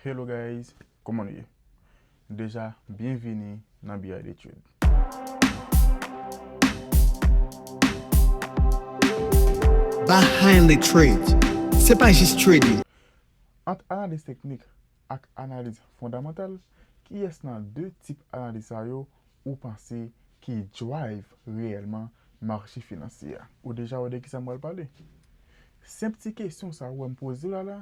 Hello guys kòman nou ye deja byenvini nan BI Detid. Behind the Trades se pa jis trading. Ant analiz teknik ak analiz fondamantal kiyès nan 2 tip analiz sa yo ou panse ki drive reyèlman mache finansye a? Ou deja wè de kisa m pral pale? Senp ti kesyon sa ou wè m poze w la la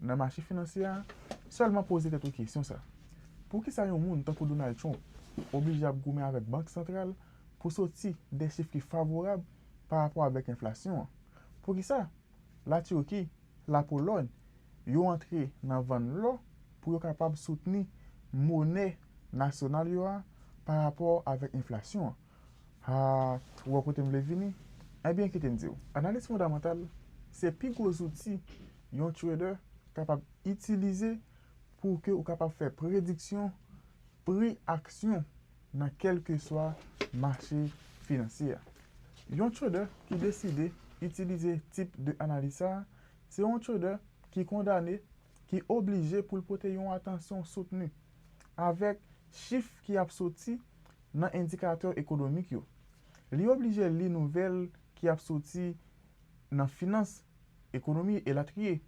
Nan mache finansye a, sèlman poze tèt ou kesyon sa, Poukisa yon moun tankou Donald Trump oblije ap goumen avèk Bank Santral pou soti de chif ki favorab pa rapò avèk enflasyon an? Poukisa La Turki, La Polòy yo antre nan vann lò pou yo kapab soutni monè nasyonal yo a pa rapò avèk enflasyon an? Haa, ou wè kote m vle vini? Ebyen kite m di w, analiz fondamantal se pi gwo zouti yon trader kapab itilize pou ke ou kapab fè prediksyon pri aksyon nan kèlkeswa mache finansye a. Yon trader ki deside itilize tip de analiz sa a, se yon trader ki kondane, ki oblije pou l pote yon atansyon soutni avèk chif ki ap soti, nan endikatè ekonomik yo. Li oblije li nouvèl ki ap soti nan finans, ekonomi, elatriye.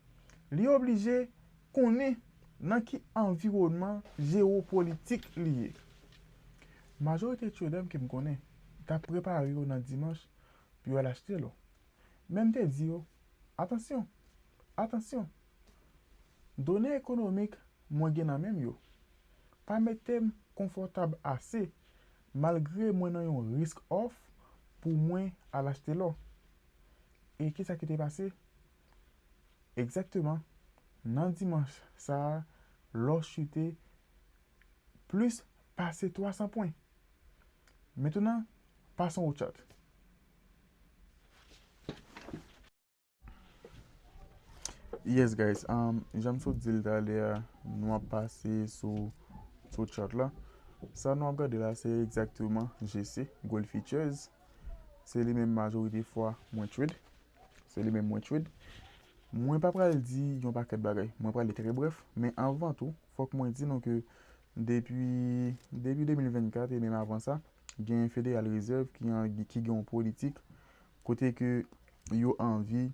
Li oblije konnen nan ki anviwònman jewopolitik li ye. Majorite tyodanm ke m konnen t ap prepare yo nan dimanch pou yo al achte lò. Men m te di yo, Atansyon! Atansyon! Done ekonomik mwen gen nan men m yo, pa mete m konfòtab ase malgre mwen nan yon risk òf pou mwen al achte lò. E ki sa ki te pase? Egzakteman, nan dimanch sa a, lò chute plis pase 300 pwen. Metenan, passons au chat. Yes guys, um, jan m sot di l talè a, nou ap pase sou sou chart la. Sa nou ap gade la se egzakteman GC, Gold Futures. Se li menm majorite fwa mwen trade. Se li menm mwen trade. Mwen pa pral di yon pakèt bagay. Mwen pral li trè bref. Men anvan tou, fòk mwen di nou ke depi depi 2024 e menm avan sa, gen Federal Reserve ki gen yon politik Kote ke yo anvi,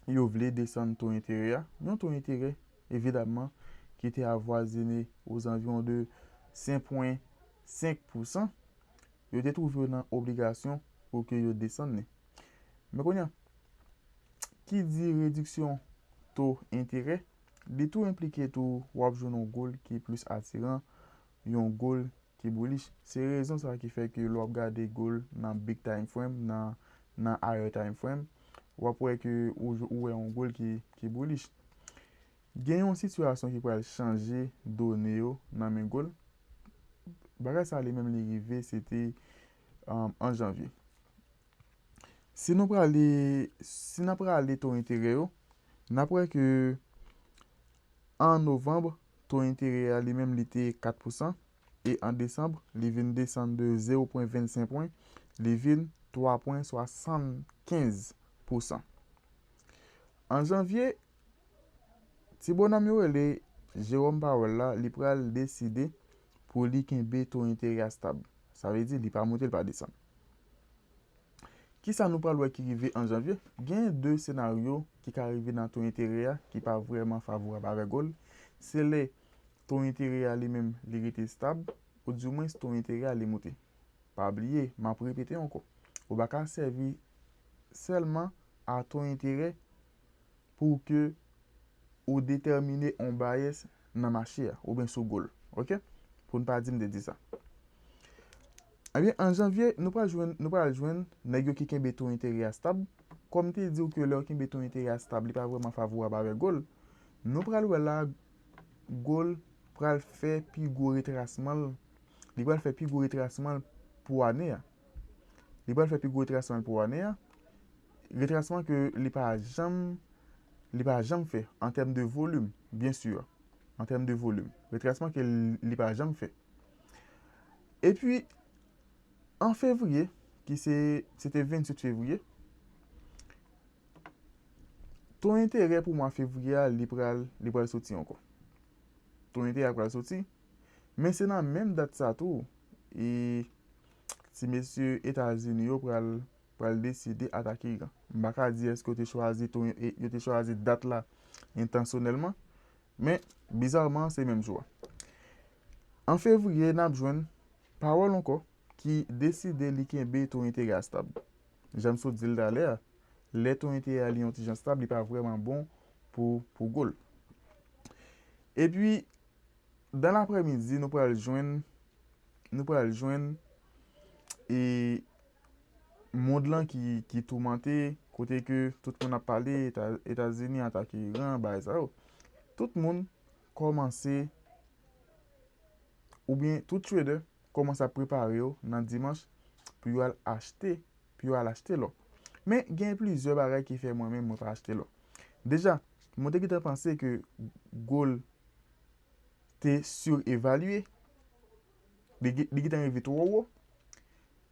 yo vle desann to enterè a. Yon to enterè, evidamman, ki te avwazine ozanviwon de 5 pwen 5 pousan. Yo te twouve yo nan obligasyon pou ke yo desann li. Men kounye a, ki di rediksyon to enterè, li tou enplike tou wap jwenn yon goal ki plis atiran yon goal ki bullish. Se rezon sa ki fè ke lè wap gade goal nan big time frame, nan higher time frame, wap wè ke ou wè yon goal ki bullish. Gen yon sitiyasyon ki pral chanje done yo nan men goal. Bagay sa li menm li rive se te an janvye. Si nou prale, si nan prale to enterè yo, nap wè ke an novembre, To enterè a li menm li te 4 pousan e an desanm li vin desann de zewo pwen 25 pwen, li vin 3 pwen 75 pousan. An janvye, ti bonòm yo rele Jerome Powell la li pral deside pou li kenbe to enterè a stab. Sa vle di li pa moute li pa desann. Ki sa nou pral wè ki rive an janvye? Genyen de senaryo ki ka rive nan to enterè a ki pa vrèman favorab avèk gold. Se lè to enterè a li menm li rete stab, oudimwens to enterè a li moute. Pa bliye, m ap repete ankò, ou pa ka sèvi sèlman a to enterè pou ke ou detèmine on bias nan mache a, oubyen sou goal. Ok? Pou n pa di m te di sa. Ebyen, an janvye, nou pral jwenn, nou pral jwenn nèg yo ki kenbe to enterè a stab. Kòm m te di ou ke lè ou kenbe to enterè a stab, li pa vrèman favorab avèk goal. Nou pral wè la, goal pral fè pi gwo retrasman l, li pral fè pi gwo retrasman l pou ane a. Li pral fè pi gwo retrasman l pou ane a. Retrasman ke li pa janm, li pa janm fè an tèm de volim, byen sur, an tèm de volim. Retrasman ke li pa janm fè. E pi, an fevriye, ki se, se te 28 fevriye, to enterè pou mwa fevriye a, li pral, li pral soti ankò. To enterè a pral soti, men se nan menm dat sa tou, e. ti mesye etazini yo pral pral deside atake iran m pa ka di eske yo te chwazi tou yo te chwazi dat la entansyonèlman men bizarman se menm jou a an fevriye nap jwenn pawòl ankò ki deside li kenbe tou enterè a stab janm sot dil talè a lè tou enterè a li yon ti jan stab li pa vrèman bon pou pou gol epi Dan laprèmidi nou pral jwenn nou pral jwenn e mond lan ki toumante kote ke tout moun ap pale Etazini atake Iran bagay sa yo. Tout moun kòmanse oubyen tout trader kòmanse ap prepare yo nan dimanch pou yo al achte pou yo al achte lò. Men, gen plizyè bagay ki fè mwen menm mwen pa achte lò. Deja, mwen te gentan panse ke gold te surevalue, li gentan rive twò wo.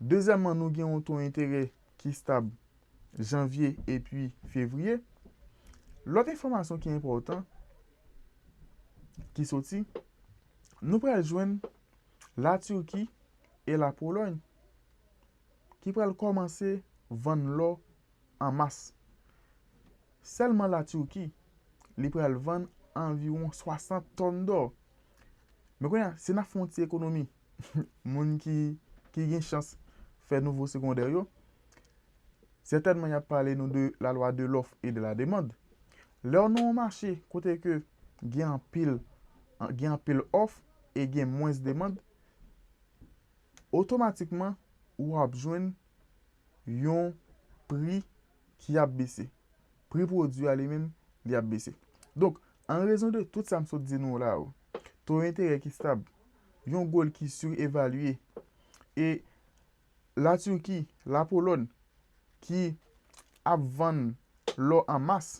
Dezyèmman, nou gen yon to enterè ki stab janvye epi fevriye. Lòt enfòmasyon ki enpòtan ki soti, nou pral jwenn la Turquie e la Pologne. ki pral kòmanse vann lò an mas. Sèlman la Turquie, li pral vann anviwon 60 tòn dò. Men kounye a, si n ap fè yon ti ekonomi, moun ki gen chans fè nouvo segondè yo, sètènman y ap pale nou de la lwa de lòf e de la demand. Lè w nan yon mache kote ke gen anpil òf e gen mwens demand, otomatikman ou ap jwenn yon pri ki ap bese. Pri pwodui a li menm, li ap bese. Donk, an rezon de tout sa m sot di nou la yo, to enterè ki stab, yon gold ki sirevalye, e La Turquie, La Polòn ki ap vann lò an mas,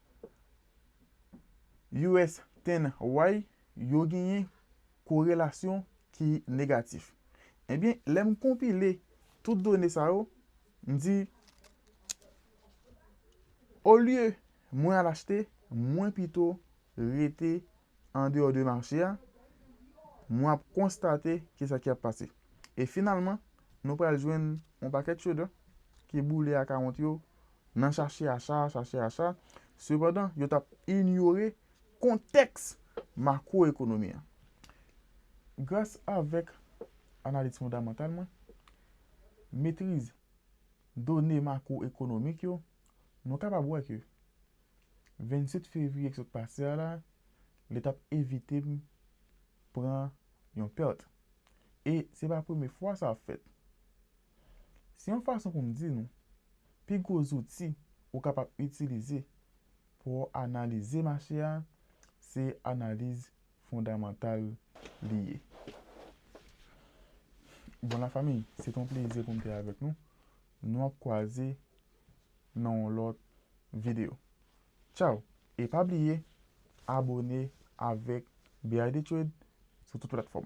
US Ten Why yo genyen korelasyon ki negatif? Ebyen, lè m konpile tout done sa yo, m di, olye mwen al achte, mwen pito rete andeyò de mache a, mwen ap konstate ki sa ki ap pase. E finalman, nou pral jwenn yon pakèt chedò ki boule akawont yo nan chache acha a, chache acha a, sepandan yo t ap inyore kontèks makwoekonomi an. Gras avèk analiz fondamantal mwen, metriz done makwoekonomik yo, nou kapab wè ke 27 fevriye ki sot pase a la, li t ap evite m pran yon pèt. E se pa premye fwa sa ap fèt. Se yon fason pou m di nou, pi gwo zouti ou kapab itilize pou w analize mache a, se analiz fondamantal li ye. Bon la fanmi, se te yon plezi pou m te avèk nou. Nou ap kwaze nan yon lòt videyo. Tchaw! E pa bliye abone avèk BIDTrade sou tout platfòm.